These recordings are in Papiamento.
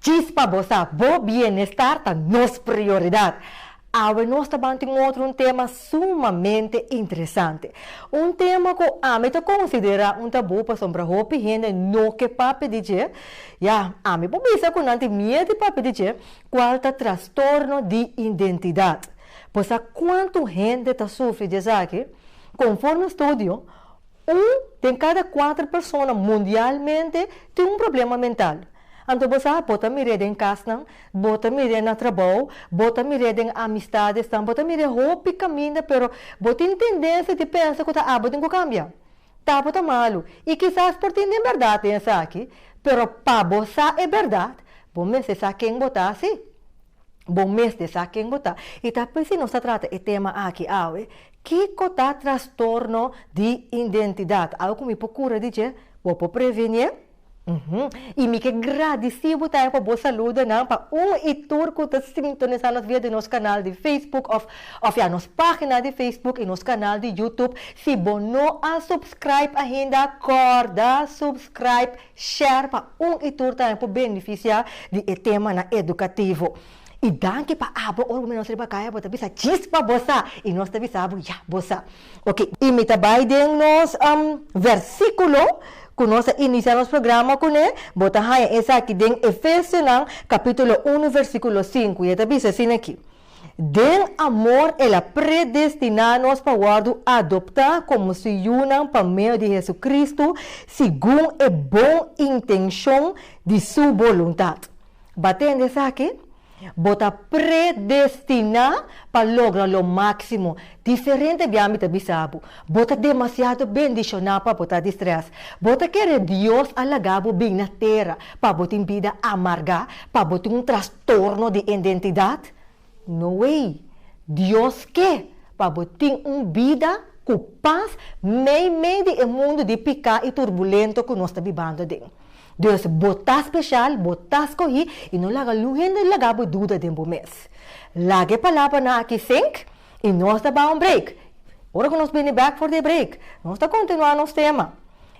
Chispa bo sa, bo bienestar ta nos prioridad. Awe nos ta ban tin otro un tema sumamente interesante. Un tema cu ami ta considera un tabú pasobra hopi hende no ke papia di dje. Ya, ami por bisa cu nan tin miedu di papia di dje, cual ta trastorno di identidad. Bo sa cuanto hende ta sufri di esaki? Conforme studio, Un den kada kuater persona mundialmente tin un problema mental. Anto bo sa, bo ta mir'é den kasnan, bo ta mir'é na trabou, bo ta mir'é den amistadesan, bo ta mir'é hopi kaminda pero bo tin tendensia di pensa ku ta abo tin ku kambia. Ta bo ta malu i kisas por tin den bèrdat den esaki, pero pa bo sa e bèrdat, bo mester sa ken bo ta, si? Bo mes ta sa ken bo ta. I ta p'esei nos ta trata e tema aki awe, Kiko ta trastorno di identidat? Awe ku mi por kura di dje, bo por prevenié. I mi ke gradisí bo tambe pa bo saluda nan pa un i tur ku ta sintonisá nos via den nos kanal di Facebook òf òf ya nos página di Facebook i nos kanal di YouTube. Si bo no a subscribe ainda, kòrda subscribe! Share pa un y tur tambe por beneficia di e tema nan educativo. Y danki pa abo ora cu mi nos riba caya bo ta bisa chispa bo sa y nos ta bisa bo ya bo sa ok. Y mi ta bay den nos versiculo cu nos a inicia nos programa cu ne, bo ta haya esaki den Efesionan capitulo uno versiculo sinku y e ta bisa asina aki. Den amor el a predestiná nos pa wòrdu adoptá komo su yunan pa medio di Hesu-Kristu segun e bon intenshon di su boluntat. Bo a tende esaki? Bo ta predestiná pa logra lo máksimo. Diferente di ami ta bisa bo, bo ta demasiado bendishoná pa bo ta di strès. Bo ta kere Dios a laga bo bin na tera pa bo tin bida amargá, pa bo tin un trastorno. Torno di indentidat? No ey! Dios ke pa bo tin un bida cu pas meimei di e mundo di pica y turbulento cu nos ta bibando aden. Dus bo ta special, bo ta scogi y no laga algun hende laga bo duda den bo mes. Laga e palabranan aki sink y nos ta bay un break. Ora cu nos bini bek for di e break, nos ta continua nos tema.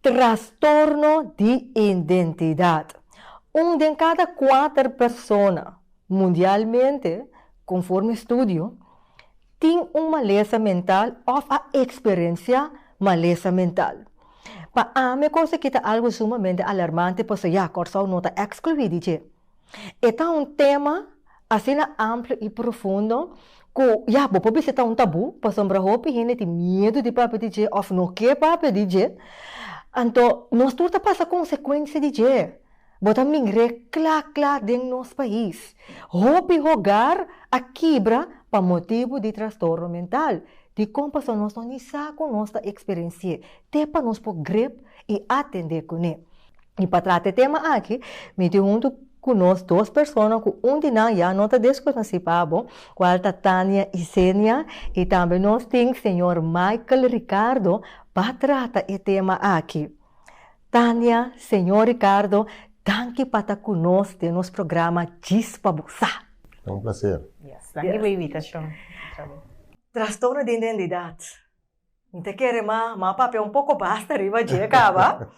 Trastorno di identidad. Un den cada cuater persona mundialmente, conforme estudio, tin un malesa mental of a experencia malesa mental. Pa ami e cosa aki ta algo sumamente alarmante pasobra ya, Kòrsou no ta exclui di dje. E ta un tema asina amplu i profundo ku ya bo por bisa ta un tabú pasobra hopi hende tin miedu di papia di dje òf no ke papia di dje. Anto nos tur ta pasa konsekuensia di dje. Bo ta mir'é kla kla den nos pais. Hopi hogar a kibra pa motibu di trastorno mental. Dikon? Pasobra nos no ni sa ku nos ta eksperensi'é. te pa nos por grep i atendé kuné. I pa trata e tema aki, mi tin huntu ku nos dos persona ku un di nan ya no ta deskonosí pa abo, kual ta Tania Isenia i tambe nos tin señor Michael Ricardo pa trata e tema aki. Tania, señor Ricardo, danki pa ta ku nos den nos programa Djis pa bo sa. Ta un plaser. Yes, danki pa e invitashon otra bes. Trastorno di identidat. N ta kere ma ma papia un poko basta riba dje kaba.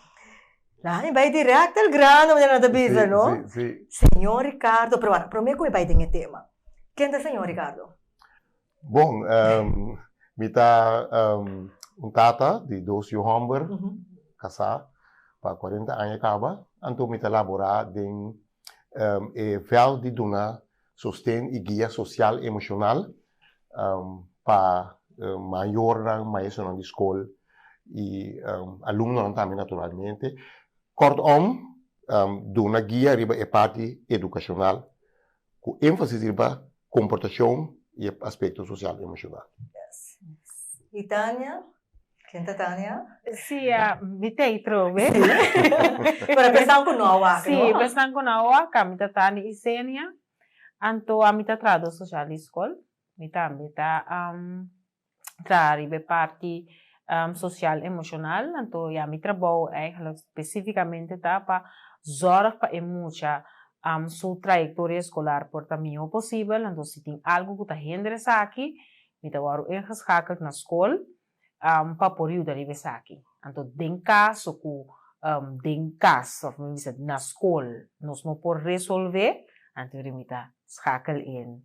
La mi bai dirèkt el grano, manera nan ta bisa, no? Sí, sí, sí. Señor Ricardo, pero a, promé ku mi bai den e tema, ken ta señor Ricardo? Bon, mi ta un tata di dos yu hòmber, kasá pa kuarenta aña kaba, anto mi ta laborá den e vèlt di duna Sosten y guia social y emocional pa mayornan, maestronan di scol y alumnonan tambe naturalmente. Kortom, duna guia riba e parti educacional cu enfasis riba comportacion y e aspecto social y emocional. Yes. Y Tania? Ken ta Tania? Sí, mi t'ei trobe. Pero pues nan ku no a wak, Sí, no? pues nan ku no a wak, ami ta Tania Isenia, anto ami ta trahadó sosial di skol, mi tambe ta traha riba e parti sosial emoshonal, anto ya mi trabou eigenlijk spesífikamente ta pa zòrg pa e mucha su trayektoria eskolar por ta mihó posibel, anto si tin algu ku ta hender esaki, Mi ta wòrdu ingeschakeld na skol pa por yuda riba esaki. Anto den kas o ku den kas, òf mi bisa na skol, nos no por resolve, anto mi ta skakel in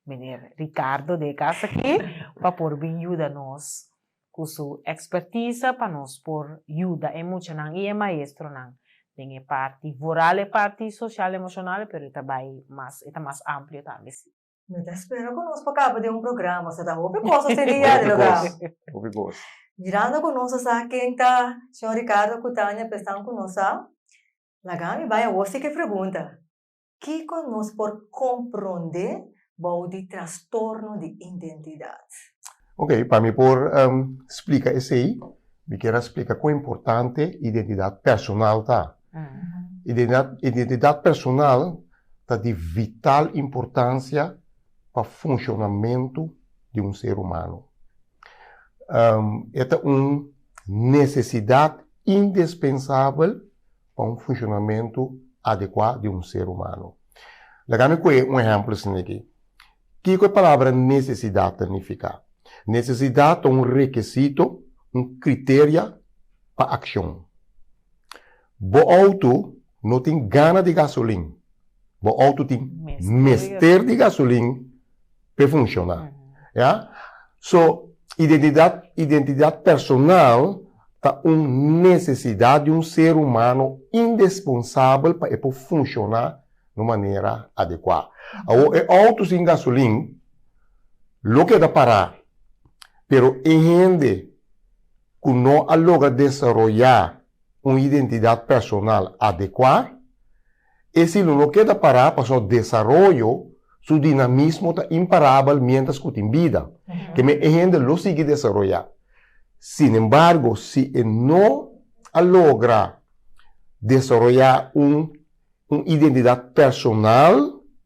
meneer Ricardo den e kas aki pa por bin yuda nos ku su ekspertise pa nos por yuda e muchanan i e maestronan den e parti voral, e parti soshal emoshonal, pero e ta bai mas, e ta mas amplio tambe si. No ta spera ku nos pa kaba den un programa, so ta hopi kos ta seria Hopi dolo kos, kaba. hopi kos. Mirando ku nos a sa ken ta Shon Ricardo ku Tania pensan ku nos sa, laga mi bai awor sik e pregunta, Kiko nos por komprondé bou di trastorno di identidat? Ok, pa mi por splika esei, mi kier a splika kon importante identidat personal ta. Identidad, identidad personal ta di vital importancia pa funcionamento di un ser humano. E ta un necesidad indispensabel pa un funcionamento adecua di un ser humano. Laga mi coge un ehemplo asina aki. Kico e palabra necesidad ta nifica? Necesidad ta un requisito, un criteria pa accion. Bo auto no tin gana di gasolin. Bo auto tin mester di gasolin p'e funciona. Ya? So, identidad, identidad personal ta un necesidad di un ser humano indesponsabel pa e por funciona na un manera adecua. Awor, e auto sin gasolin lo keda para, pero e hende ku no a logra desaroyá un identidat personal adekuá, e silu no keda pará pasobra desaroyo su dinamismo ta imparabel miéntras ku tin bida. Kemey e hende lo sigui desaroyá. Sinembargo, si e no a logra desaroyá un identidat personal,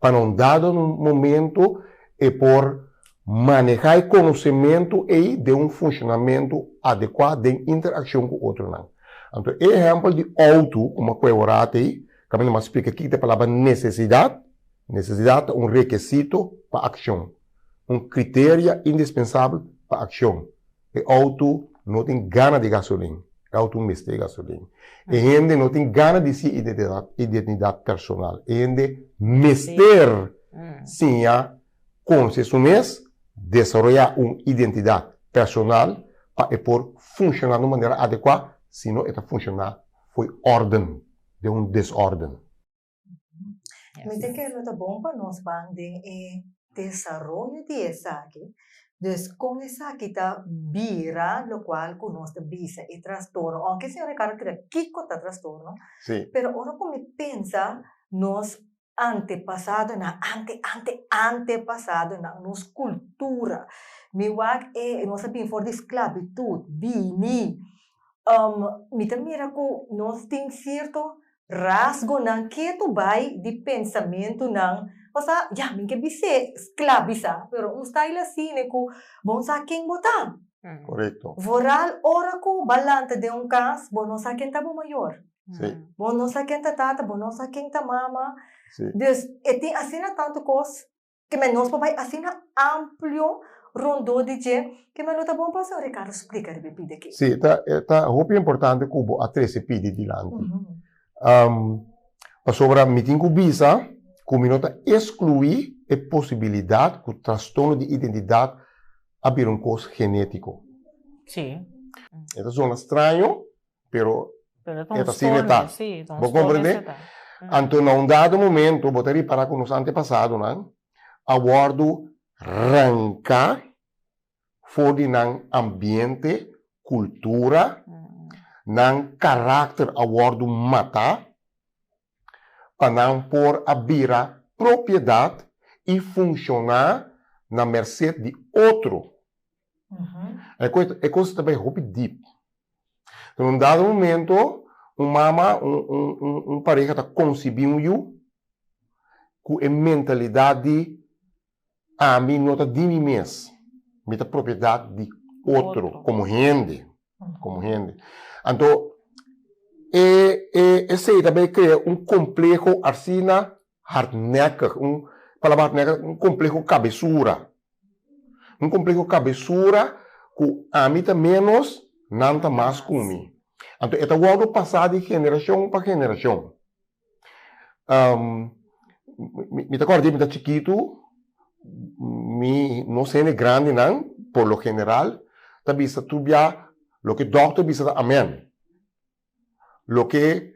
Pa na un dado momento e por maneha e konosementu ei den un funshonamentu adekua den interakshon ku otronan. Anto e ehèmpel di outo, kuma ku e ora tei, kaminda mas splika kiko ta e palabra nesesidat. Nesesidat ta un rekesito pa akshon, un kriteria indispensabel pa akshon. E auto no tin gana di gasolin. E auto mester gasolin. E hende no tin gana di si identidad personal. E hende mester siña conoce su mes, desaroya un identidad personal pa e por funciona na un manera adecua, sino e ta funciona fo'i orden, den un desorden. Mi ta kere lo ta bon pa nos ban den e desaroyo di esaki. Dus kon esaki ta bira lokual ku nos ta bisa e trastorno? Ounke señor Ricardo keda kiko ta trastorno, Sí. pero ora ku mi pensa nos antepasadonan, ante ante antepasadonan, nos kultura, mi wak e nos a bini for di sklabitut, bini, mi ta mira ku nos tin sierto Rasgonan ketu bai di pensamentunan pa sa ya mi ke bis'é sklabisá, pero un style asine ku bo no sa ken bo ta. Korekto. Vooral ora ku bo a lanta den un kas, bo no sa ken ta bo mayor. Si. Bo no sa ken ta tata, bo no sa ken ta mama. Si. Dus e tin asina tantu kos Te men nos por bai asina amplio rondó di dje ke men lo ta bon pa Señor Ricardo splica riba e pide ke. Sí, ta ta hopi importante ku bo a trese pidi dilanti. Pasobra mi tin ku bisa ku mi no ta eskluí e posibilidat ku trastorno di identidat a bira un kos genétiko. Sí. E ta sona straño, pero e ta asina e ta. Bo komprende? Anto na un dado momento bo ta ripara ku nos antepasadonan a wòrdu ranka for di nan ambiente, kultura, nan karakter a wòrdu mata. pa nan por a bira propiedat i funshoná na merset di otro. E kos ta bai hopi dip. Den un dado momento, un mama, un pareha ta konsibí un yu ku e mentalidat di. Ami no ta di mi mes, mi ta propiedat di otro, komo hende. Komo hende. Anto, e, e, esei ta bay krea un kompleho asina hardnekkig, un, palabra hardnekkig, un kompleho kabesura. Un kompleho kabesura ku ami ta ménos, nan ta mas ku mi. Anto, e ta wòrdu pasá di generashon pa generashon. mi ta kòrda dje mi ta chikitu, mi nos hende grandinan por lo general ta bisa tur bia loke dòkter a bisa amèn, loke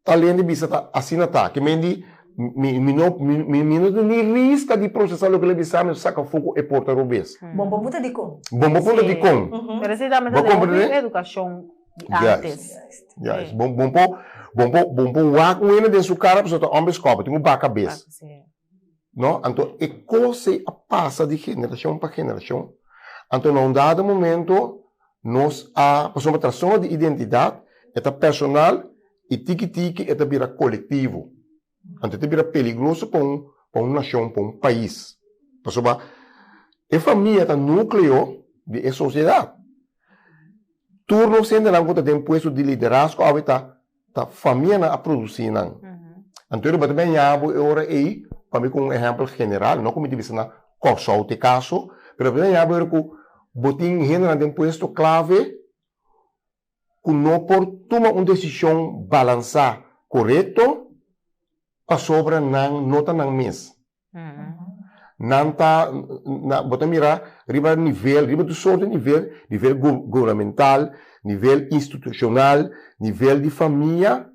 tal hende bisa ta asina ta, ki mei di mi no mi no ta ni riska di prosesá loke el a bisámi o saka foko e por ta robes. Bon bo punta dikon? Bon bo punta dikon? Bo komprendené? di antes. Juist, bon bon por bon por bon por wak un hende den su kara pasobra ta homber scoba, tin un baka bes. No, anto e cos ey a pasa di generacion pa generacion, anto na un dado momento nos a pasobra trastorno di identidad e ta personal y tiki tiki e ta bira colectivo. Anto ta bira peligroso pa un pa un nashon, pa un pais. Pasoba e famia ta nukleo di e sosiedat. Tur nos hendenan ku ta den puesto di liderazgo awe ta ta famianan a produsi nan. Anto e tabata mi a yaha bo e ora ei pa mi kon un ehèmpel general, no ku mi ta bisa na Kòrsou ta e kaso, pero mi a yaha bo e ora ku bo tin hendenan den puesto klave ku no por tuma un desishon balansá korekto pasobra nan no ta nan mes. Nan ta, bo ta mira riba nivel, riba tur sort di nivel, nivel gubernamental, nivel institushonal, nivel di famia,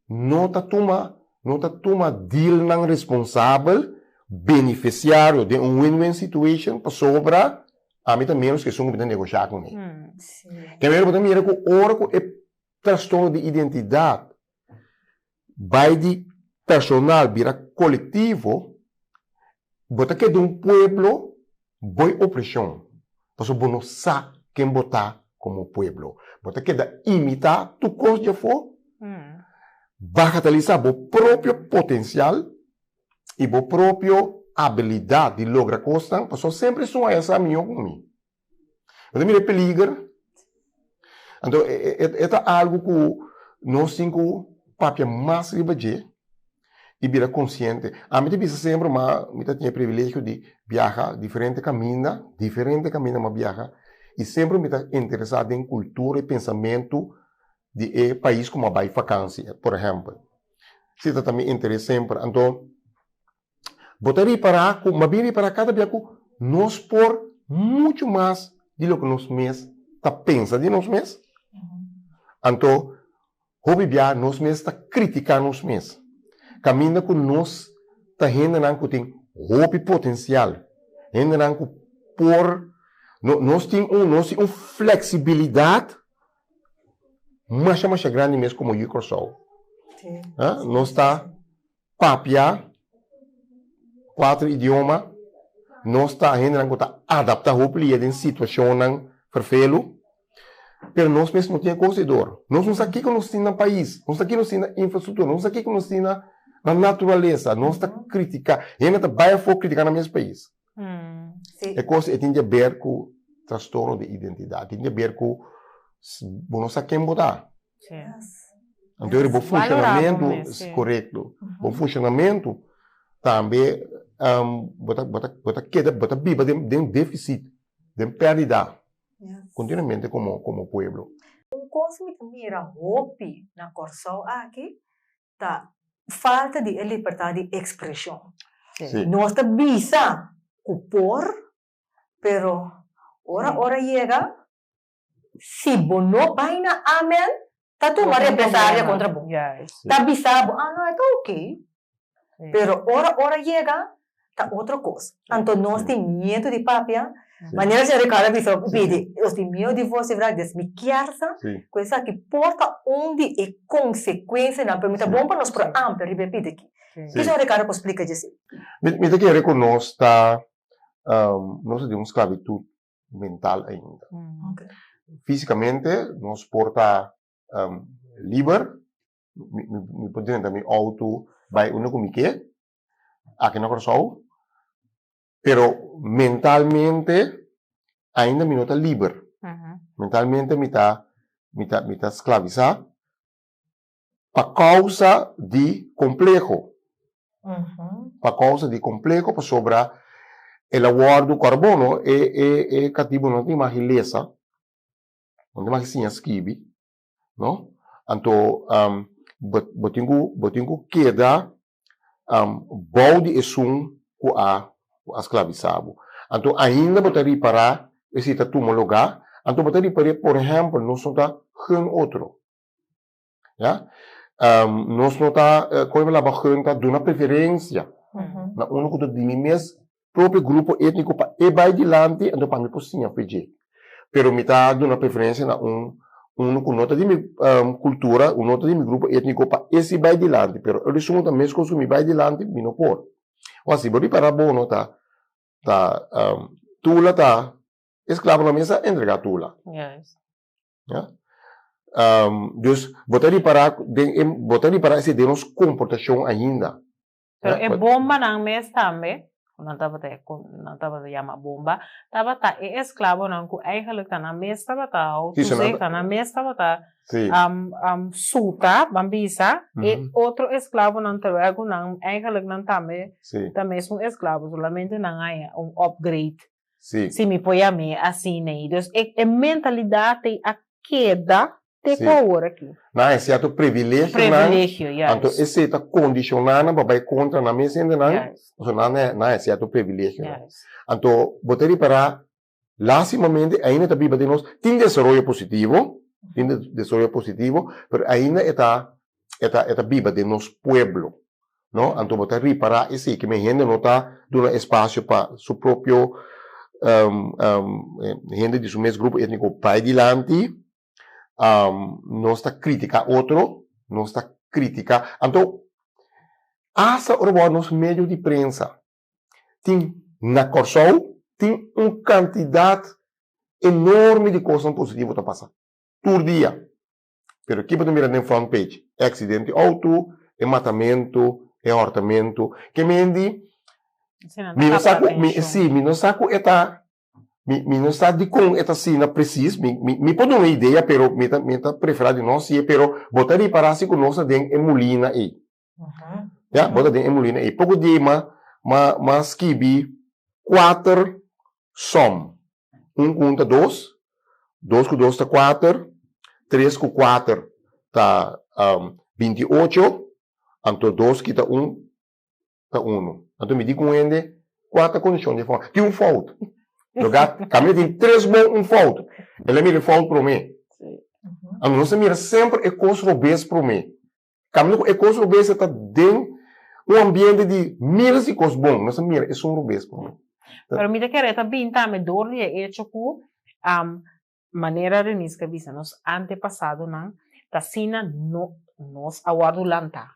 no ta tuma no ta tuma dealnan responsabel benefesiario den un win win situation pasobra ami ta menos ke esun ku mi ta negosha ku mi. Kenwel bo ta mira ku ora ku e trastorno di identidat bai di personal bira kolektivo bo ta keda un pueblo Boy oprecion paso bo no sa ken bo ta como pueblo. Bo ta keda imita tur cos dje afo, bagataliza bo propio potencial y bo propio habilidad di logra cosnan paso semper esun a yasa miho como mi. Bo ta mira e peliger. Anto e ta algu ku nos tin ku papia mas riba dje i bira konsiente. Ami ta bisa semper kuma mi ta tin e privilegio di biaha diferente kaminda, diferente kaminda mi a biaha i semper mi ta interesá den kultura i pensamentu di e pais ku mi a bai fakansia, por ehèmpel. Si ta ta mi interes semper. Anto. Bo ta ripará ku mabien ripará kada bia ku nos por muchu mas di loke nos mes ta pensa di nos mes. Anto hopi bia nos mes ta kritiká nos mes kaminda ku nos ta hendenan ku tin hopi potensial, hendenan ku por nos tin un nos tin un fleksibilidat masha masha grandi mes komo yu Kòrsou. Nos ta papia cuatro idioma, nos ta hendenan cu ta adapta hopi lia den situacionnan ferfelu, pero nos mes no tin e cos ei dor. Nos no sa kico nos tin na pais, no sa kico nos tin na infrastructura, no sa kico nos tin na na naturalesa, nos ta critica, hende ta bai afo critica nan mes pais. E cos ei tin deber cu trastorno di identidad, tin deber cu bo no sa ken bo ta. Anto bo funshonamentu korekto, bo funshonamentu tambe bo ta bo ta bo ta keda bo ta biba den defisit, den perdida kontinuamente komo komo pueblo. Un kos mi ta mira hopi na Kòrsou aki ta falta di e libertad di ekspreshon. Nos ta bisa ku por pero ora ora yega Si bo no bai na Amen, ta tuma represalia kontra bo. Ta bisa bo, ah, no, e ta okey. Pero ora ora yega, ta otro kos. Anto nos tin miedu di papia, manera Sen. Ricardo a bisa ku Pidi, nos tin miedu di vos, di bradis. Mi kièrsa ku esaki porta un di e konsekuensianan, pero mi ta bon pa nos por amplia riba e pidi aki. Ke Sen. Ricardo por splika dje esei? Mi ta kere ku nos ta, nos ta den un sklavitud mental ainda. Físikamente nos por ta liber, mi por drenta mi outo bai unda ku mi ke aki na Kòrsou, pero mentalmente ainda mi no ta liber, mentalmente mi ta mi ta mi ta sklavisá Pa causa di compleho. Pa causa di compleho pasobra el a wordo carbono e e e catibo no tin mas ki lesa no tin mas ki siña skibi no anto bo bo tin cu bo tin cu keda bou di esun cu a cu a sclavisa bo anto ainda bo ta ripara e si ta tumo loga anto bo ta ripare por ehempel nos no ta hun otro. Ya. Nos no ta, kon mi ta laba, hun ta duna preferencia na unu ku ta di mi mes propio grupo etniko pa e bai dilanti, enton pa mi por siña fu dje. Pero mi ta duna preferencia na un, unu ku no ta di mi kultura, ku no ta di mi grupo etniko pa e si bai dilanti, pero otro esun ku ta mes kosun mi bai dilanti, mi no por. Ho a si bo ripará bono ta, ta tula ta esklabo na mesa entrega tula. Ya. dus, bo ta ripará den e, bo ta ripará esei den nos komportashon ainda. Pero e bombanan mes tambe, ku nan tabata e ku nan tabata yama bomba, tabata e esklabonan ku eigentlik ta nan mes tabata hou tusei, ta nan mes tabata suta, ban bisa, e otro esklabonan terwel ku nan eigentlik nan tambe ta mesun esklabo, solamente nan haya un opgreit. si mi poi amé así nei. Dus e e mentalidad ei a keda te ku aworakí. Nan e sierto privilegionan. Privilegio, juist. Anto esei ta condicioná nan pa bai contra nan mes hendenan. Juist. Pasobra nan e nan e sierto privilegionan. Juist. Anto bo ta ripará lastimamente ainda ta biba den nos tin desaroyo positivo tin desaroyo positivo pero ainda e ta e ta e ta biba den nos pueblo no anto bo ta ripara esiki mi hende no ta duna espacio pa su propio hende di su mes grupo etnico bay dilanti nos ta critica otro nos ta critica anto asta ora bo a nos medio di prensa tin na Kòrsou tin un cantidad enorme di cosnan positivo ta pasa tur dia Pero ki bo ta mira den front page? E aksidente outo, e matamentu, e hortamentu. Ke mendi mi no sa ku, si, mi no sa ku e ta, mi no sa dikon e ta asina presis, mi por duna e idea pero mi ta prefera di no hasi'e pero bo ta ripará si ku nos ta den e mulina ei. Ya, bo ta den e mulina ei. Poko dia ei m'a m'a skibi kuater som. Un ku un ta dos, dos ku dos ta kuater, tres ku kuater ta binti i ocho, anto dos kita un ta unu. Anto mi di ku un hende, kua ta kondishon di e fòmula? Tin un fout. Lo ga kami a tin tres bon un fout, el a mira e fout promé. Nos ta mira semper e kos robes promé. Kaminda ku e kos rubes ta den un ambiente di miras di kos bon, nos ta mira esun rubes pa mi. Pero mi ta kere e ta binta mi dor di e echo ku manera Renis ke bisa nos antepasadonan ta asina nos a wòrdu lantá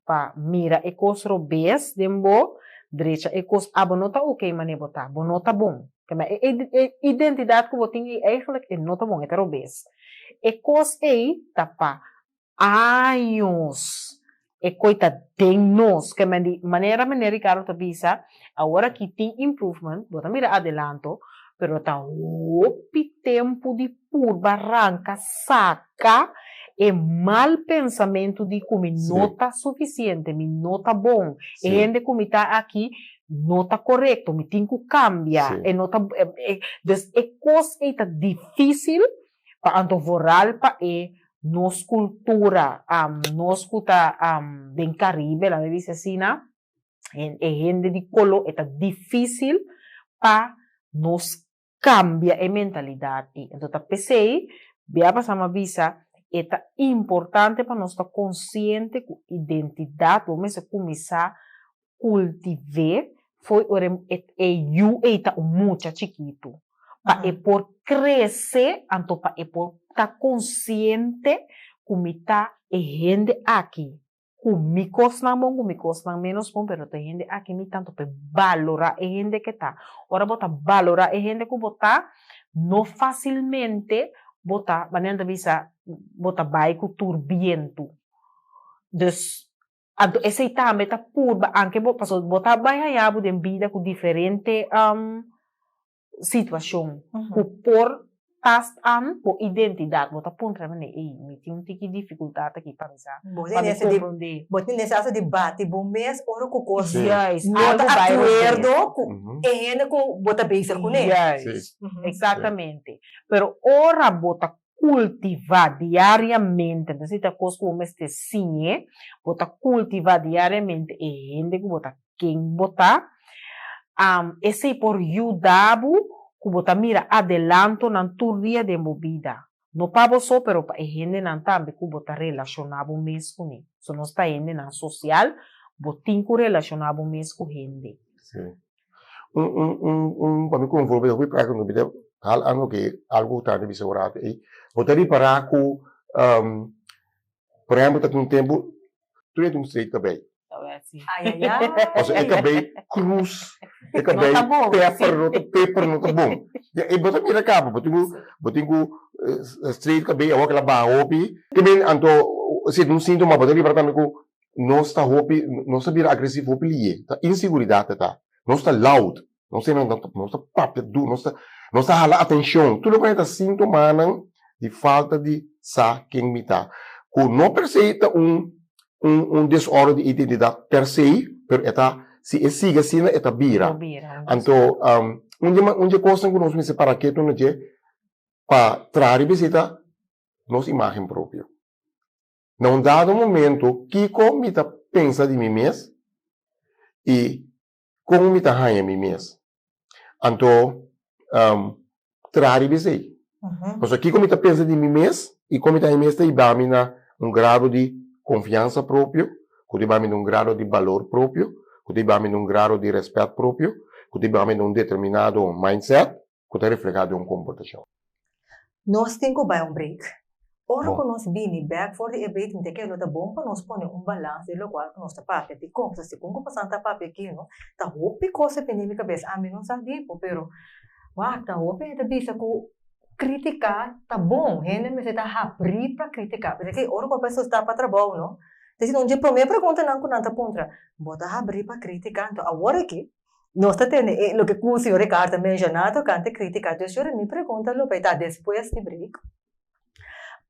pa mira e kos rubes den bo drecha e kos abo no ta oke manera bo ta, bo no ta bon. Te mira e identidat ku bo tin ei, eigenlijk e no ta bon, e ta rubes. E kos ei ta pa Años e koe ta den nos. Ke men di manera Mene Ricardo ta bisa, awor aki tin improvement, bo ta mira adelanto, pero ta hopi tempu di purba ranka, saka e mal pensamentu di ku mi no ta sufisiente, mi no ta bon, e hende ku mi ta aki no ta korekto, mi tin ku kambia, e no ta, dus e kos ei ta difísil pa anto vooral pa e nos cultura nos cu ta den Caribe laga mi dici asina e hende di color eta dificil pa nos cambia e mentalidad ey entonces ta pesey bia pasaba ma bisa eta importante pa nos ta consciente cu identidad bo mester cuminsa cultivé foi ora e yu ei ta un mucha chikitu, pa e por crece anto pa e por ta consciente cu mi ta e hende aki, cu mi cosnan bon cu mi cosnan menos bon pero ta e hende aki mi ta anto pa e balora e hende cu e ta. Ora bo ta balora e hende cu bo ta, no facilmente bo ta, manera nan ta bisa, bo ta bay cu tur bientu. Dus Anto esei tambe ta purba anke bo, pasobra bo ta bai haña bo den bida ku diferente situashon ku por tast an bo identidat. Bo ta puntra nan ei, ei, mi tin un tiki difikultat aki pa mi sa, pa mi komprondé. Bo tin nesha asa di bati bo mes ora ku kos no ta akuerdo ku e hende ku bo ta bezig kuné. Juist, eksaktamente. Pero ora bo ta cultiva diariamente, entonces y ta cos cu bo mester siñe, bo ta cultiva diariamente e hende cu bo ta ken bo ta, esey por yuda bo cu bo ta mira adelantonan tur dia den bo bida, no pa bo so pero pa e hendenan tambe cu bo ta relaciona bo mes cu ne, so nos ta hendenan social, bo tin cu relaciona bo mes cu hende. un un un un pa mi konfo bo hopi praka no bida hal ano ke algu ku tambe bisa ora ei bo ta ripará ku por ehempel ta tin tempu tur dje tin un straight kabei pasobra e kabei krus e kabei pepper no ta pepper no ta bon ya ei bo ta mira kaba bo tin ku bo tin ku straight kabei awor kila baha hopi anto si e ta un sintoma bo ta ripará tambe ku nos ta hopi nos ta bira agresivo hopi liye ta insiguridad ta ta nos ta loud nos ta nos ta papia duru nos ta nos ta hala atencion tur loke na e ta sintomanan di falta di sa ken mi ta cu no per se ta un un un desorden di identidad per se pero e ta si e sigue asina e ta bira anto un dje un dje cosnan cu nos mester para ketu na dje pa traha riba esey ta nos imagen propio. Na un dado momento, kiko mi ta pensa di mi mes i kon mi ta haña mi mes? Anto traha riba esei. Pasobra kiko mi ta pensa di mi mes i kon mi ta haña mi mes ta ibami na un grado di konfiansa propio, ku ta ibami na un grado di balor propio, ku ta ibami na un grado di rèspèt propio, ku ta ibami na un determinado mindset. ku ta reflehá den un komportashon. Nos tin ku bai un break. Ora ku nos bini bèk for di e break mi ta kere lo ta bon pa nos pone un balans di lokual ku nos ta papia. Dikon? Pasobra segun ku Pasan ta papia aki no ta hopi kos ta bini mi kabes. Ami no sa di bo pero wak a hopi hende ta bisa ku kritiká ta bon. Hende mester ta habrí pa kritiká. Pasobra ora ku bo bai solisitá pa trabou no ta disi nan dje promé pregunta nan ku nan ta puntra bo ta habrí pa kritiká? Nto awor aki. Nos ta tende e loke ku señor Ricardo ta menshoná tokante krítika Dios Yora. Mi pregunta lo bai ta despues di break,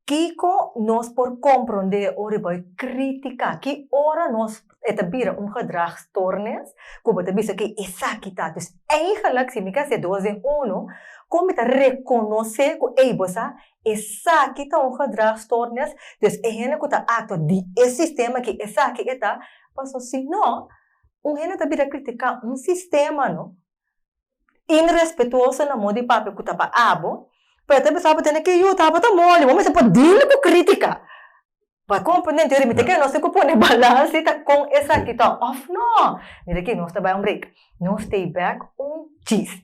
Kiko nos por komprondé ora e bai krítika? Ki ora nos e ta bira un gedrag stoornis ku bo ta bisa ke esaki ta? Dus eigelijk, si mi ke hasié dos den uno, kon mi ta rekonosé ku ei bo sa esaki ta un gedrag stoornis? Dus e hende ku ta aktua di e sistema ke esaki e ta, paso si no, Un hende ta bira kritiká un sistema, no? Inrespetuoso na modi papia ku ta pa abo, pero e ta bisa abo tene ke yuta, abo ta moli, bo mester por dil ku krítika pa komprendé. Entonces mi ta kere nos tin ku pone balans di ta kon esaki ta òf nò. Mira aki, nos ta bai un break, nos stay back un chis.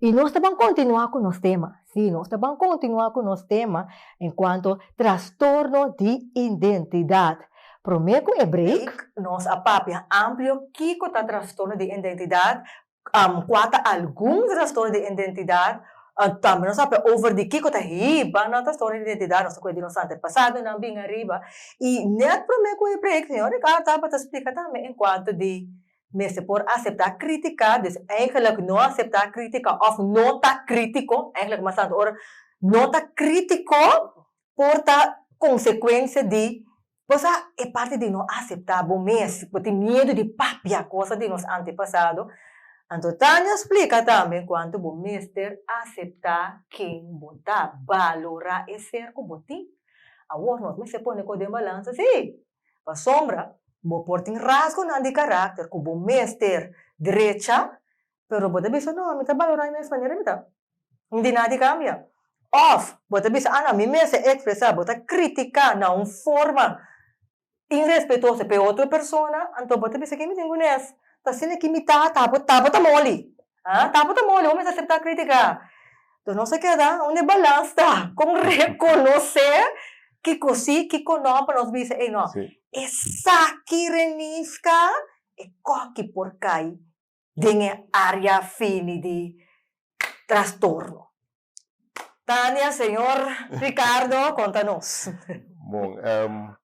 I nos ta ban kontinuá ku nos tema. Sí, nos ta ban kontinuá ku nos tema enkuanto trastorno di identidat. Promé ku e break, nos a papia amplio kiko ta trastorno di identidat, kua ta algun trastorno di identidat, tambe nos a papia over di kiko ta hiba nan trastorno di identidat, nos ta kuda di nos antepasadonan bin ariba. I nèt promé ku e break, señor Ricardo tabata splika tambe enkuanto di mester por aseptá krítika, dus èigelik no aseptá krítika òf no ta krítiko, èigelik mas santo ora no ta krítiko por ta konsekuensia di pasá e parti di no aseptá bo mes, bo tin miedu di papia kosa di nos antepasado, anto Tanya splika tambe kuantu bo mester aseptá ken bo ta, balorá e ser ku bo tin. Awor nos mester pone kos den balansa, sí! Pasobra bo por tin rasgonan di karakter ku bo mester drecha, pero bo ta bisa, No, mi ta balorá e mes manera mi ta. N di nada di kambia. Òf bo ta bisa, Anda, mi mester ekspresá. Bo ta kritiká na un forma irespetoso pa e otro persona, anto bo ta bisa, Ke mi tin ku nes? T'asina ki mi tata abo tabata moli. Ah, tapu ta moli, homes a acepta critica. Entonces nos a keda unda e balans ta, con reconoce kico si, kico no, pa nos bisa, ey no, Sí. esaki renisca e koki por cay den e area fini di trastorno. Tania, señor Ricardo, conta nos. Bon, em,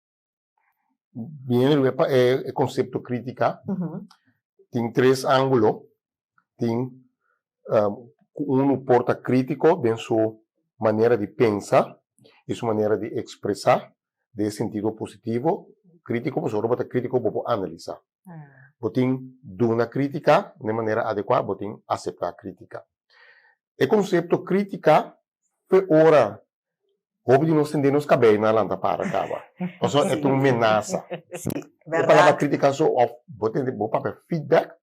Biniendo luwe pa e concepto critica, tin tres angulo, tin cu uno por ta critico den su manera di pensa y su manera di expresa den e sentido positivo, critico pasobra bo bo ta critico bo por analisa, bo tin duna critica den manera adecua, bo tin acepta critica. E concepto critica fe ora Hopi di nos tende nos kabei na lanta para kaba. Pasobra e ta un menasa. Si, berdad. Un palabra kritika so of bo tende bo papia feedback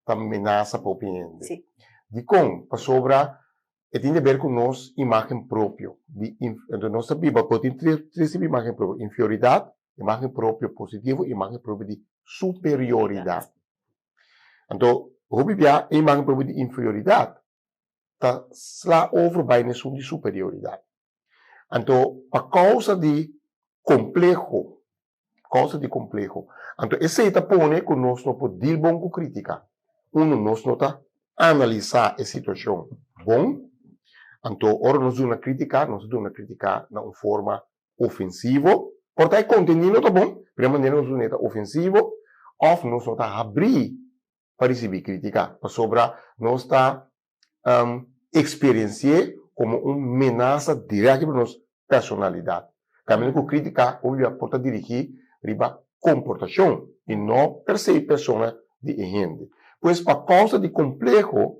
ta menasa pa hopi hende. Si. Dikon? Pasobra e tin deber ku nos imagen propio. Di inf nos ta biba bo tin tres tres tipo di imagen propio, inferioridat, imagen propio positivo, imagen propio di superioridat. Anto hopi bia e imagen propio di inferioridat ta sla over bai na esun di superioridat. Anto pa kousa di kompleho, kousa di kompleho, anto esei ta pone ku nos no por dil bon ku krítika. Uno, nos no ta analisá e situashon bon, anto ora nos duna krítika, nos ta duna krítika na un forma ofensivo, por ta e kontendí no ta bon, pero e manera nos dun'é ta ofensivo òf nos no ta habrí pa risibi crítica, pasobra nos ta experienci'é como un menaza direct riba nos personalidad. Caminda cu crítica obligado por ta dirigí riba comportacion y no per se persona di e hende. Pues pa causa di compleho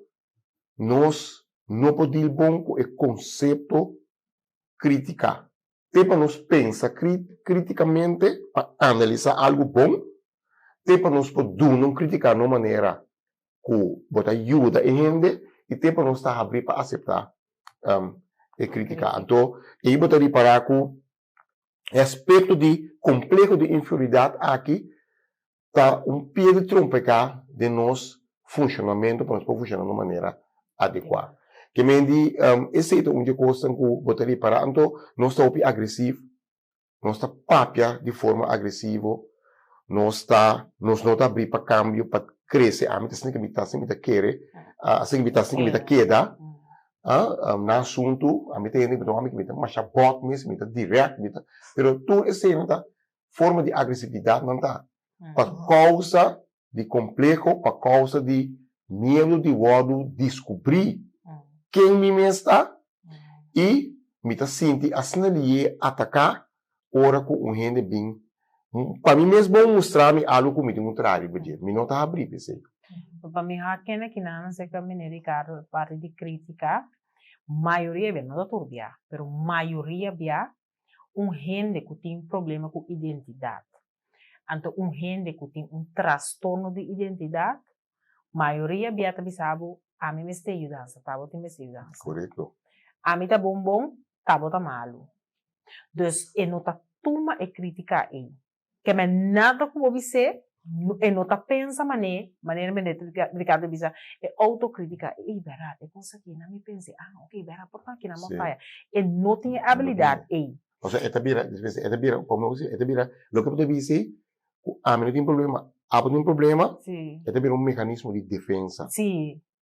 nos no por deal bon cu e concepto crítica. te pa nos pensa krítikamente pa analisá algu bon te pa nos por duna un krítika na un manera ku bo ta yuda e hende i te pa nos ta habrí pa aseptá e krítika. Anto ei bo ta ripará ku e aspekto di kompleho di inferioridat akí ta un pia di trompeká den nos funshonamentu pa nos por funshoná na un manera adekuá. Ke men di esei ta un di e kosnan ku bo ta repará anto nos ta hopi agresif, nos ta papia di forma agresivo, nos ta nos no ta abrí pa kambio, pa krese, ami ta sinti ku mi ta si mi ta kere, asi ku mi ta si ku mi ta keda, na asuntu, ami ta hende ku mi ta wak mi ku mi ta masha bòt mes, mi ta dirèk, mi ta, pero tur eseinan ta forma di agresividad nan ta pa causa di compleho, pa causa di miedo di wordo descubri ken mi mes ta y mi ta sinti asina liye ataca ora cu un hende bin pa mi mes bon mustra mi algo cu mi tin un traha riba dje, mi no ta habri pa esey. Pa mi ha kende ki nan acerca meneer Ricardo parti di critica mayoria bia, no ta tur bia, pero mayoria bia un hende ku tin problema ku identidat. Anto un hende ku tin un trastorno di identidat, mayoria bia ta bisa bo, ami mester e yudansa, ta bo tin mester e yudansa. Korekto. Ami ta bon bon, ta bo ta malu. Dus e no ta tuma e kritika ei. keme nada ku bo bis'é e no ta pensa mané, manera Minister Ricardo a bisa e autocritica ey bera e cos aki nan mi pens'é ah ok bera por aki nan bo faya e no tin e abilidad ey. O sea e ta bira despues e ta bira como e ta bira loke bo ta bis'é ku ami no tin problema abo tin problema e ta bira un mecanismo di defensa.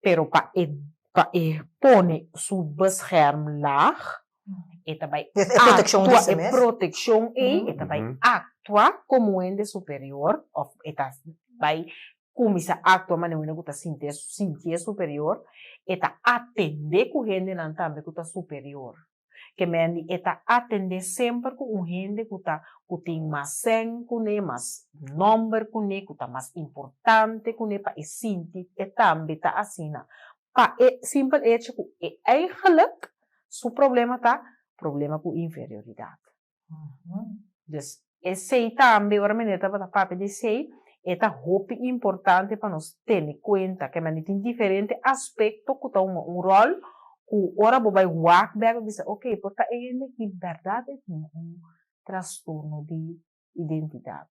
pero pa e pa e pone su bescherm laag, e ta bai E proteccion di actua, su e mes. proteccion ei, e ta bai Mhm. actua como un hende superior, of e ta bai cuminsa actua manera un hende cu ta sintié, sintié superior, e ta atendé cu hendenan tambe cu ta superior. Kemen di e ta atendé semper ku un hende ku ta ku tin mas sèn kuné, mas nòmber kuné, ku ta mas importante kuné pa e sinti e tambe ta asina pa e simpel echo ku e eigelik su problema ta problema ku inferioridat. Des esey tambe ora meneer tabata papia di esey e ta hopi importante pa nos tene cuenta kende mandi tin diferente aspecto cu ta hunga un rol cu ora bo bay wak bek bo bisa ok por ta e hende aki berdad e tin un trastorno di identidad.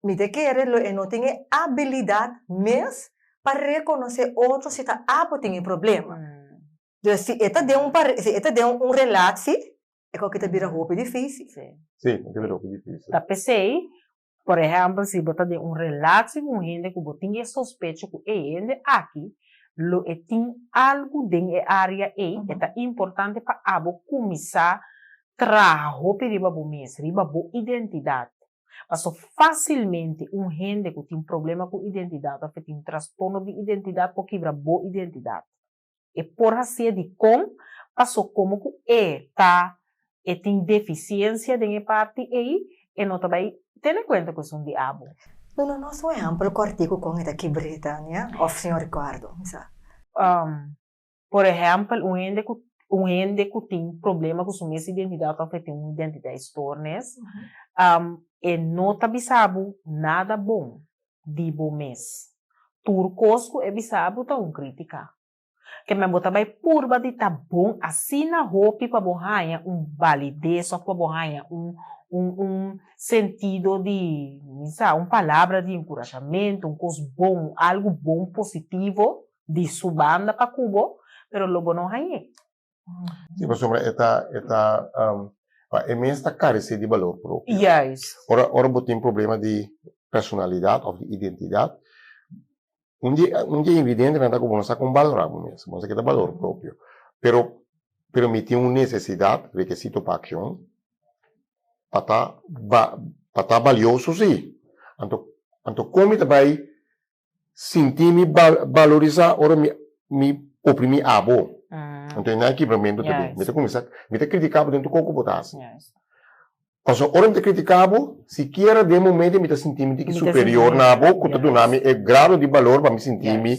Mi ta kere lo e no tin e abilidad mes pa reconoce otro si ta apo tin e problema. Dor si e ta den un pare, si e ta den un relaci, e kouke ta bira hopi dificil. Sí. Sí, e ta bira hopi dificil. Ta pesey, por ehempel, si bo ta den un relaci cu un hende cu bo tin e sospecho cu e hende aki lo e tin algo den e area ey, e ta importante pa abo cuminsa traha hopi riba bo mes, riba bo identidad. Paso fásilmente un hende ku tin problema ku identidat òf e tin trastorno di identidat por kibra bo identidat. E por hasié dikon? Paso komo ku e ta e tin defisiensia den e parti ei, e no ta bai tene kuenta ku esun di abo. Duna nos un ehèmpel kòrtiku kon e ta kibr'é, Tania òf señor Ricardo? Misa. Por ehèmpel, un hende ku un hende ku tin problema ku su mes identidat òf e tin un identiteitstornis, e no ta bisa bo nada bon di bo mes. Tur kos ku e bisa bo ta un krítika. Kèmen bo ta bai purba di ta bon asina hopi pa bo haña un balides òf pa bo haña un un un sentido di mi sa un palabra di enkurashamentu, un kos bon, algu bon positivo di su banda pa ku bo, pero lo bo no hañ'é. Si, pasobra e ta, e ta, pa e mes ta karesé di balor propio. Juis. Ora, ora bo tin problema di personalidat òf di identidat, un di, un di e ingredientenan ta ku bo no sa kon balorá bo mes, bo no sa ke ta balor propio. Pero, pero mi tin un nesesidat, rekesito pa akshon, pa ta, pa ta balioso si. Anto, anto kon mi ta bai sinti mi valorisá ora mi mi oprimí abo. Anto nan e kibramentu ta bin. Mi ta kuminsá mi ta kritikabo den tur koko bo ta hasi. Pasobra ora mi ta kritikabo sikiera den e momentu mi ta sinti mi di ki superior na abo ku ta duna mi e grado di balor pa mi sinti mi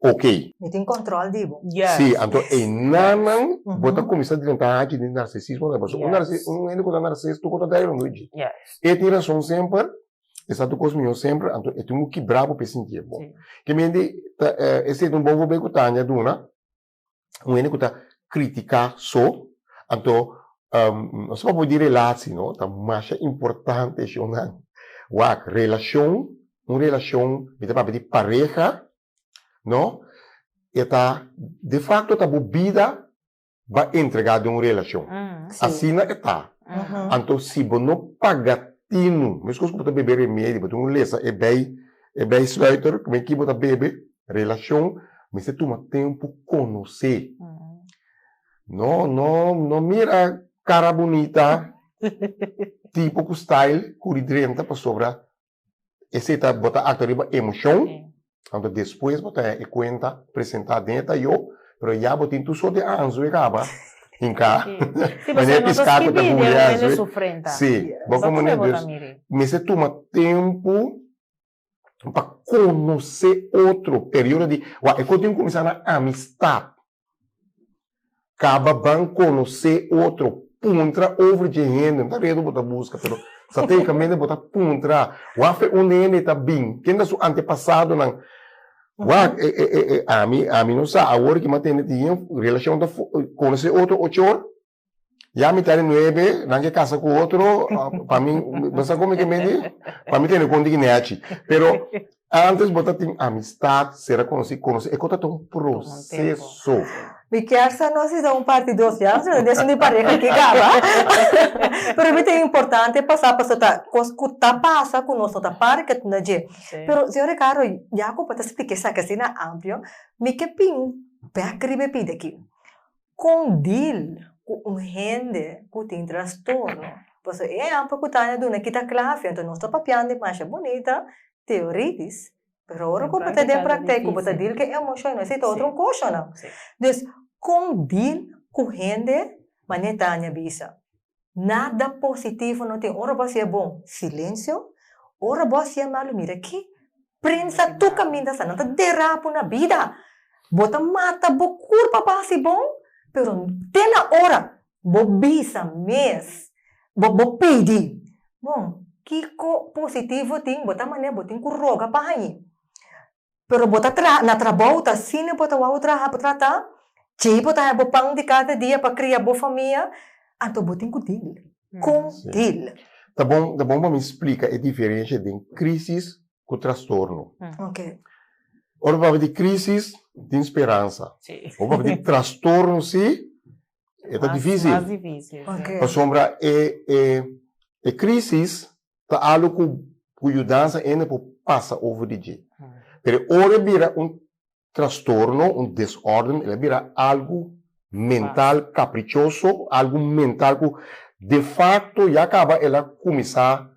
oke. Mi tin kòntròl di bo. Sí, anto einan nan bo ta kuminsá drenta hachi di narsisismo nan pasobra un un hende ku ta narsis tur kos ta daña lo no e dje. E tin rason semper Esatu kos mihó semper, anto e tin ku kibra bo pe sintié bon. Ke mente ta e statement bon fobe ku Tania duna, un hende ku ta kritiká so, anto nos papia obi di relatsi no, ta masha importante shownan. Wak, relashon, un relashon mi ta papia di pareha no, e ta defakto ta bo bida ba entrega den un relacion asina e ta anto si bo no paga tinu mescos cu bo ta bebe remedio bo tin un lesa e bay e bay sluiter cu bay ki bo ta bebe relacion mester tuma tempo conoce no no no mira cara bunita tipo cu style cur y drenta pasobra. Esei ta, bo ta aktua riba emoshion, anto despues bo ta e kuenta presentá den e tayó, pero ya bo tin tur sort di anzu e kaba hinká. Sí, pasobra nos a skibí den rumen di sufrenta. Sí, bo ta pone dus mester tuma tempu pa konosé otro, periodo di, wak, e kos tin kuminsá na amistat. Caba ban conoce otro. Puntra over dje hende. No ta redo bo ta busca pero strategicamente bo ta puntra. Wafe un de hende ta bin? Ken ta su antepasadonan? Wak e e e ami ami no sa awor ki m'atende tin hen relacion ta conoce otro ocho or. Ya mi ta di nuebe, nan ke kasa ku otro, pa mi, bo sa kon mi ke mindi? Pa mi tene kon diki nèchi. Pero, ántes bo ta tin amistat, sera konosí, konosí e kota ta un proseso. Mi kier sa nos hisa un parti dos ya, si no den esun di pareha aki kaba. Pero mi tin importante pasá pasobra ta kos ku ta pasa ku nos no ta para ke tunda dje. Pero, señor Ricardo, ya ku bo ta splika esaki asina amplio, mi ke bin bèk riba e pidi aki. Kon dil ku un hende ku tin trastorno? Paso e ehèmpel ku Tania duna aki ta kla, afia. Anto nos ta papiandi masha bunita teoritis, pero ora ku bo ta den praktèk, ku bo ta dil ku e emoshon, nos ei ta otro koshonan. Dus, kon dil ku hende manera Tania bisa? Nada positivo no tin ora bos yé bon silencio ora bos yé malo mira ki prensa tur caminda sa nan ta derapu na bida bo ta mata bo cur pa bo haci bon pero te na ora bo bisa mes bo bo pidi bon kico positivo tin bo ta mane bo tin cu roga pa hañi Pero bo ta traha na trabou ta asina bo ta wou traha bo trata djei bo ta hèb bo pan di kada dia pa kria bo famia anto bo tin ku dil kon dil. Ta bon ta bon pa mi splika e diferensha den krisis ku trastorno oke ora bo papia di krisis tin speransa ora bo papia di trastorno si e ta difisil pasobra e e krisis ta alu ku ku yudansa hende por pasa over di dje. Pero ora e bira un trastorno, un desorden, el a bira algu mental caprichoso, algu mental ku de facto ya kaba el a kuminsá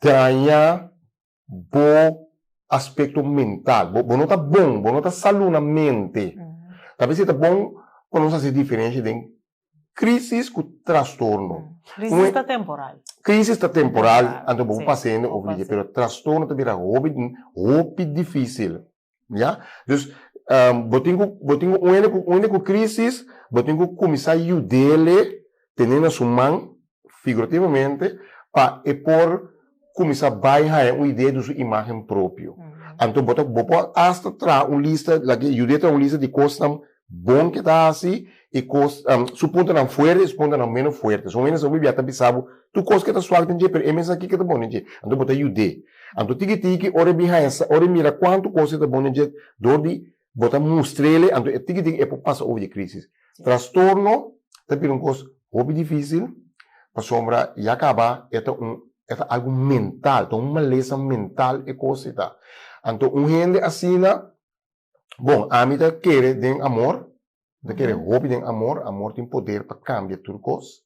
daña bo aspekto mental. Bo no ta bon, bo no ta salunamente. Tal bes i ta bon pa nos hasi diferensha den crisis cu trastorno. Mm. Crisis Un e- ta temporal. Crisis ta temporal, Temporal, anto bo sí. pasa hende Bo of liga, pasa. pero trastorno ta bira hopi, hopi dificil, ya. Dus, ehm, bo tin cu, bo tin cu un hende cu, un hende cu crisis, bo tin cu cuminsa yudele tene na su man figurativamente, pa e por kuminsá bai haña un idea di su imágen propio. Anto bo ta, bo por asta traha un lista, laga yuda e traha un lista di kosnan bon ke ta hasi i kos, su puntonan fuerte i su puntonan meno fuerte. Son hendenan bo bia ta bisa bo tur kos ke ta suak den dje, pero e mensaki ke ta bon den dje. Anto bo ta yud'é. Anto tiki tiki ora e bin haña, ora e mira kuantu kos ke ta bon den dje dor di. Bo ta mustr'ele anto e tikitik e por pasa over dje krisis. Trastorno ta bira un kos hopi difísil pasobra ya kaba e ta un e ta algu mental, ta un malesa mental e kos ei ta. Anto un hende asina, bon, ami ta kere den amor, Bo ta kere hopi den amor. Amor tin poder pa kambia tur kos.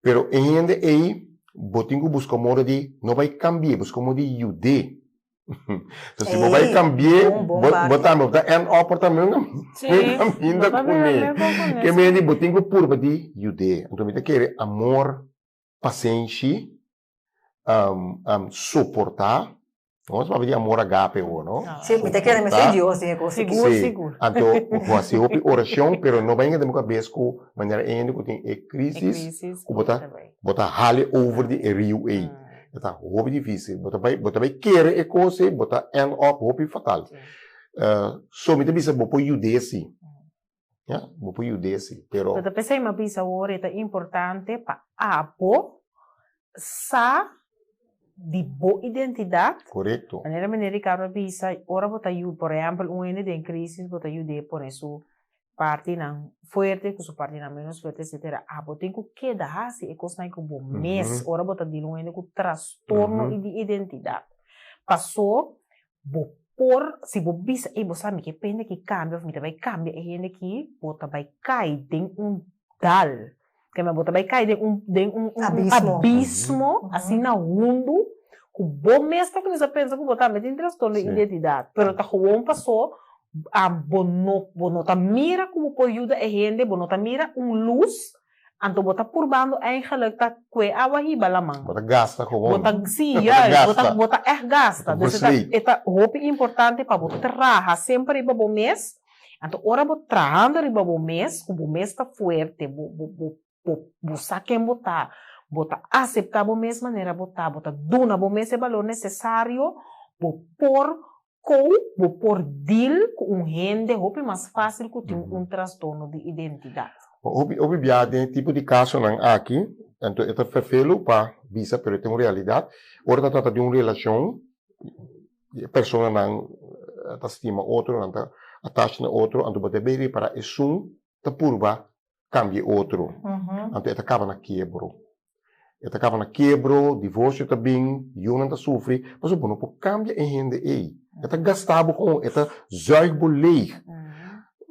Pero e hende ei, bo tin ku buska un modo di no bai kambi'é, buska un modo di yud'é. So si bo bai kambi'é, bo tambe ta end up por tambe un kaminda kuné. Ke mester di bo tin ku purba di yud'é. Anto mi ta kere amor, pasenshi, um, um, soportá. Nos papia di amor agape ho, no? Sí, mi te quiere me soy Dios, dije cosa. Sigur, sí. sigur. Anto, hace hopi oración, pero no venga de mi cabeza cu manera ende cu tin e crisis, cu bota, bota hale over di e rio ei. Eta hopi difícil. Bota bai, bota bai quiere e cosa, bota end up hopi fatal. Uh, so, mi te bisa bo por yude si. Ya, bo por yuda esei, pero. Lo ta p'esei mi a bisa awor e ta importante pa abo sa di bo identidat. Korekto. Manera mene Ricardo a bisa, ora bo ta yuda, por ehèmpel un hende den krísis, bo ta yud'é pone su partinan fuerte ku su partinan ménos fuerte, etsetera. Abo tin ku keda hasi e kosnan ku bo mes ora bo ta dila un hende ku trastorno di identidat. Pasó Bo por, si bo bisa, ey, bo sa, mi ke pende ki kambia, of mi ta bay kambia e hende ki, bo ta bay kai den un dal, kema, bo ta bay kai den un, den un, un, un abismo, asina hundu, ku bo mes ta kuminsa pensa ku bo tambe tin trastorno di identidat, pero ta gewoon pasó, bo no, bo no ta mira ku bo por yuda e hende, bo no ta mira un lus. Anto bo ta purbando eigenlijk ta kue awa hiba laman. Bo ta gasta gewoon. Bo ta, sí, juist, bo ta, bo ta ègt gasta. Bo ta gasta. Dus e ta, e ta hopi importante pa bo traha semper riba bo mes. Anto ora bo trahando riba bo mes, ku bo mes ta fuerte, bo, bo, bo, bo, bo sa ken bo ta, bo ta aseptá bo mes manera bo ta, bo ta duna bo mes e balor nesesario, bo por Kou bo por dil ku un hende hopi mas fásil ku tin un trastorno di identidat? Hopi hopi biaha den e tipo di kasonan aki, anto e ta fefelu pa bisa pero e ta un realidat. Ora ta trata di un relashon, e personanan ta stima otro, nan ta attach na otro, anto bo debe repará esun ta purba cambia e otro, anto e ta caba na kiebro. E ta caba na kiebro, divorcio ta bin, yunan ta sufri, pasobra bo no por cambia e hende ey. E ta gasta bo gewoon, e ta zuig bo leeg.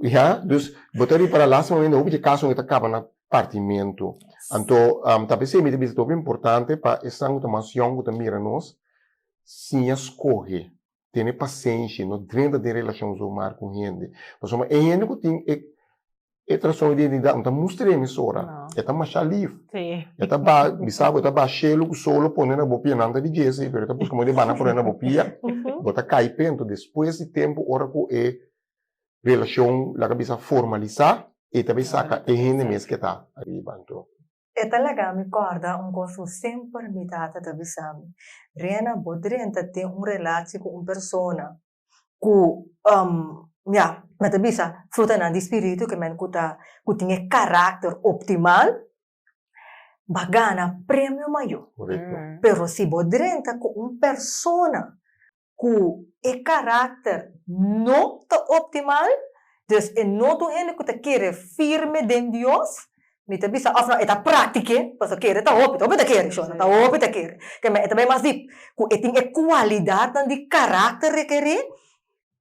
Ya, dus bo ta ripara lastimamende hopi dje casonan ta caba na partimento. Anto, tal bes esey ta bisa tabata importante pa esnan cu ta mas yong, cu ta mira nos, siña scoge. tene pasenshi, no drenta den relashon su mar ku hende, pasobra ma e hende ku tin e e trastorno di identidat no ta mustra e emisora, e ta masha lif, e ta ba bisa bo e ta ba shelu ku solo pone na bo pia nan ta di Jesse pero e ta buska moda di bana pone na bo pia, bo ta kai pento, despues di tempu ora ku e relashon laga bisa formalisa e ta bai saka e hende mes ke ta ariba anto. E ta laga mi kòrda un kos ku semper mi tata ta bisa mi, Rena, bo drenta tin un relashi ku un persona ku mia mi a ta bisa frutanan di spiritu ke men ku ta ku tin e karakter optimal ba gana premio mayo, pero si bo drenta ku un persona ku e karakter no ta optimal, dus e no ta un hende ku ta kere firme den Dios, mi ta bisa òf nau e ta práktiké, pasobra kere ta hopi, ta hopi ta kere, shona, ta hopi ta kere. Te me, e ta bai mas dip, ku e tin e kualidatnan di karakter rekerí,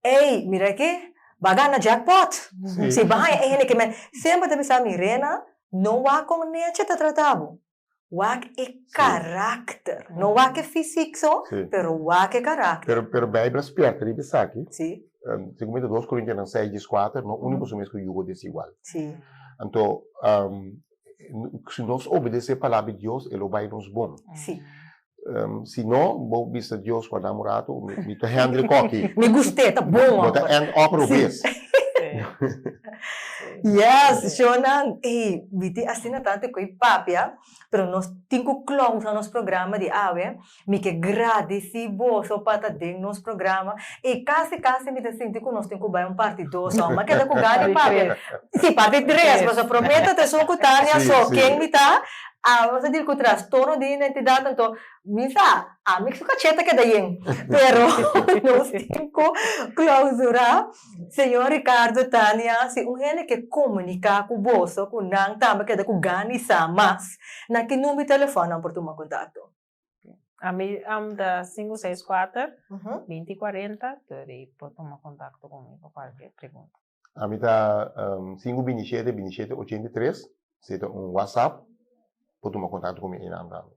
ei, mira aki, ba gana jackpot, si ba haña e hende ke mi semper ta bisa, Mirena, no wak kon Neche ta trata bo. Wak e karakter. No wak e fisik so, pero wak e karakter. Pero Beibel a spièrta riba esaki. Segun mi ta dos Korintianan seis dies kuater, no uni boso mes ku yugo desigual. Anto, si nos obedesé palabra di Dios, e lo bai nos bon. Ehm, si no, bo bisa Dios guarda un rato, mi, mi ta handle koki. Mi gust'e, ta bon Bo ta hoor. end up Sí. robes. Yes, shownan, ey, mi tin asina tantu ku e papia, pero nos tin ku close na nos programa di awe. Mi ke gradisi boso pa ta den nos programa. I kasi kasi mi ta sinti ku nos tin ku bai un parti dos awe. Mi a keda ku gana e Parti papia. tres. Sí, parti tres, Sí. pasobra promé ta ta esun ku Tania, Sí, so sí. ken mi ta? Awe bo ta dil ku trastorno di identidat anto mi sa ami ku su kachèt ta keda yen pero nos tin ku klausurá señor Ricardo Tania si un hende ke komuniká ku boso ku nan tambe keda ku gana di sa mas na ki number di telefòn nan por tuma kontakto. Ami am ta sinku seis kuater binti kuarenta tur i por tuma kontakto ku mi pa kualker pregunta. Ami ta sin ku bini shete, bini shete ochenta i tres, si e ta un WhatsApp por tuma kontakto ku mi einan tambe.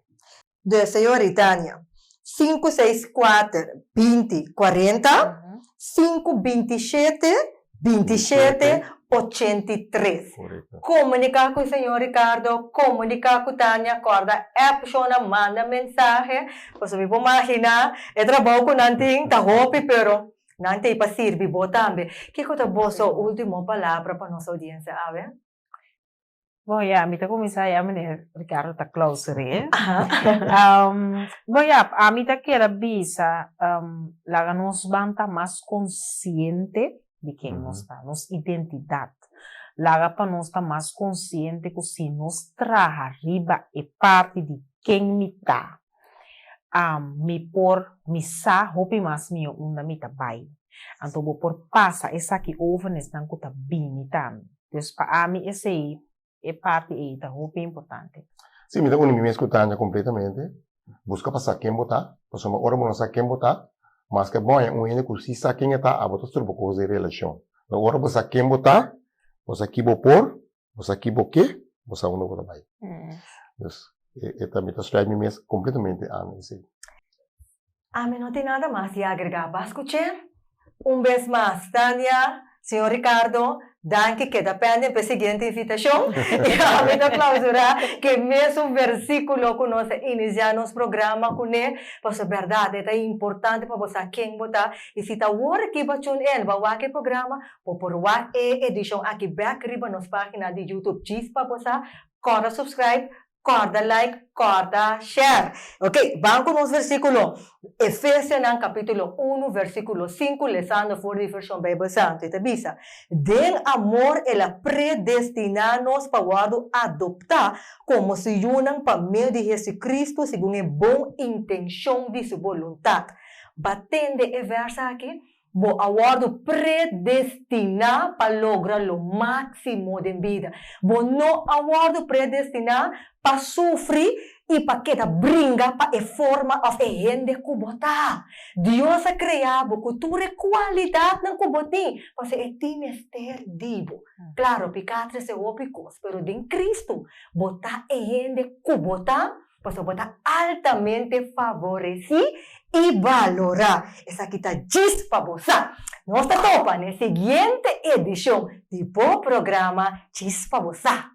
De señori Tania, sin ku seis kuater, binti, kuarenta, sin ku binti shete, binti shete, ochenta i tres. Korekto. Komuniká ku señor Ricardo, komuniká ku Tania, kòrda app shona, manda mensahe, pasobra mi por maginá e trabou ku nan tin ta hopi, pero. Nan t'ei pa sirbi bo tambe. Kiko ta boso ultimo palabra pa nos audiensia awe? Bon ya, mi ta kuminsá ya meneer Ricardo ta klauser'é. Bon ya, ami ta keda bisa laga nos ban ta mas konsiente di ken nos ta, nos identidat. Laga pa nos ta mas konsiente ku si nos traha riba e parti di ken mi ta, Am, mi por, mi sa hopi mas mihó unda mi ta bai. Anto bo por pasa esaki over nesnan ku ta bini ta mi. Des pa ami esei, e parti ei ta hopi importante. Sí, mi ta uni mi mes ku Tanja kompletamente. Buska pa sa ken bo ta, pasobra ora bo no sa ken bo ta, maske bo haña un hende ku sí sa ken e ta, abo ta strupa kos den relashon. Ora bo sa ken bo ta, bo sa ki bo por, bo sa ki bo ke, bo sa unda bo ta bai. Pues e ta mi ta sluit mi mes completamente ami esey. Ami no tin nada mas di agrega pas cu ce. Un bes mas Tania, señor Ricardo, danki keda penden p'e siguiente invitacion y ami ta clausura k'e mesun versiculo cu nos a inicia nos programa cu ne, paso berdad e ta importante pa bo sa ken bo ta y si ta awor kiba tune in, bo a wak e programa, Bo por wak e edishon aki bèk riba nos página di Youtube Djis pa bo sa, kòrda subscribe, kòrda like, kòrda share. Ok, ban ku nos versíkulo, Efesianan kapítulo unu versíkulo sinku lesando for di Vershon Beibel Santu. E ta bisa, Den amor el a predestiná nos pa wòrdu adoptá komo su yunan pa medio di Hesukristu segun e bon intenshon di su boluntat. Bo a tende e vèrs aki? Bo a wòrdu predestiná pa logra lo máksimo den bida. Bo no a wòrdu predestiná pa sufri i pa keda bringa pa e forma òf e hende ku bo ta. Dios a krea bo ku tur e kualidatnan ku bo tin, pasobra e tin mester di bo. Klaro, piká trese hopi kos, pero den Kristu bo ta e hende ku bo ta. Pasobra bo ta altamente favoresí i balorá. Esaki ta djis pa bo sa. Nos ta topa na e siguiente edishon di bo programa Djis pa bo sa.